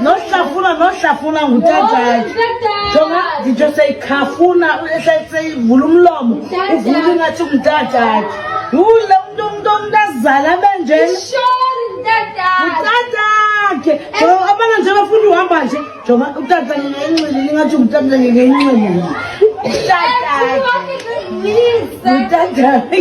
nohlafuna nohlafuna ngutatayo jonga nditsho seyikhafuna seyivula umlomo uvula ingathi ngutatayo yule umntu umntu omntu azala benjena utatakhe abana nje bafuna uhamba nje jonga utata ngenxili lingathi ngutata ngenxili utatakhe utatakhe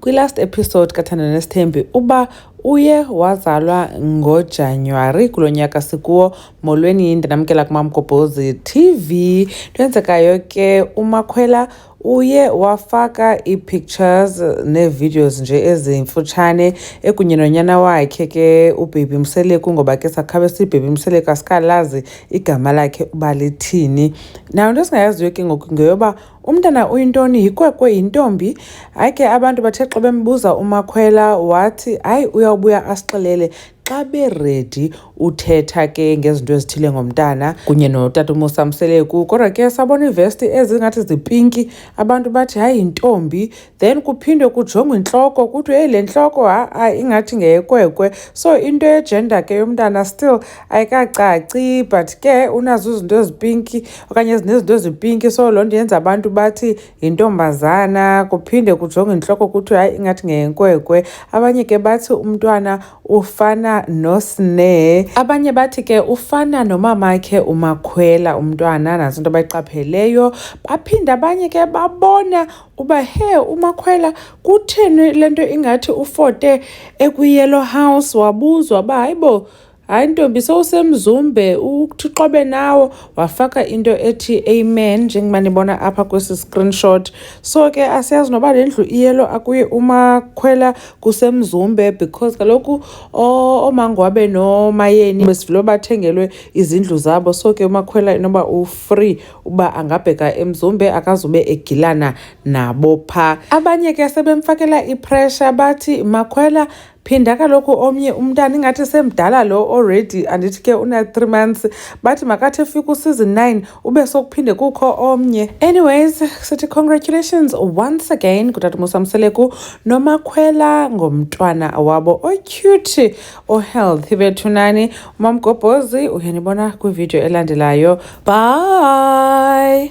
Kwi-last episode kaThanda Nesithembi uba uye wazalwa ngoJanuwari kulo nyaka sikuwo molweni ndinamkela kumamgobhozi TV lwenzekayo ke umakhwela uye wafaka ii-pictures nee-videos nje ezimfutshane ekunye nonyana wakhe ke ubhebi mseleku ngoba ke sakhabe sibhebi mseleku asikalazi igama lakhe uba lithini nayo into esingayaziyo ke ngoku ngeyoba umntana uyintoni yikwekwe yintombi hayi ke abantu bathe xa bembuza umakhwela wathi hayi uyawubuya asixelele xa beredi uthetha ke ngezinto ezithile ngomntana kunye notata umusa mseleku kodwa ke sabona iivesti ezingathi zipinki abantu bathi hayi yintombi then kuphindwe kujongwe intloko kuthiwe hey le ntloko ha-a ingathi ngeyekwekwe so into yejenda ke yomntana still ayikacaci but ke unazo izinto ezipinki okanye zinezinto ezipinki so loo nto yenza abantu bathi yintombazana kuphinde kujongwe intloko kuthiwe hayi ingathi ngeyenkwekwe abanye ke bathi umntwana ufana nosne abanye bathi ke ufana nomamakhe umakhwela umntwana nazo into bayiqapheleyo baphinde abanye ke babona uba he umakhwela kutheni le nto ingathi ufote ekwiyellow house wabuzwa uba hayi bo hayi ntombi sowusemzumbe uthiqobe nawo wafaka into ethi amen njengoba nibona apha kwesi screenshot so ke asiyazi noba le ndlu iyelo akuye umakhwela kusemzumbe because kaloku oomango wabe nomayeni besivele bathengelwe izindlu zabo so ke umakhwela inoba ufree uba angabheka emzumbe akazube egilana nabo pha abanye ke sebemfakela ipressure bathi makhwela phinda kaloku omnye umntana ingathi semdala lo already andithi ke una-three months bathi makathi efika useason nine ube sokuphinde kukho omnye anyways sithi congratulations once again kutata musamseleku nomakhwela ngomntwana wabo ocute ohealthy bethu nani umamgobhozi uyanibona kwividiyo elandelayo bye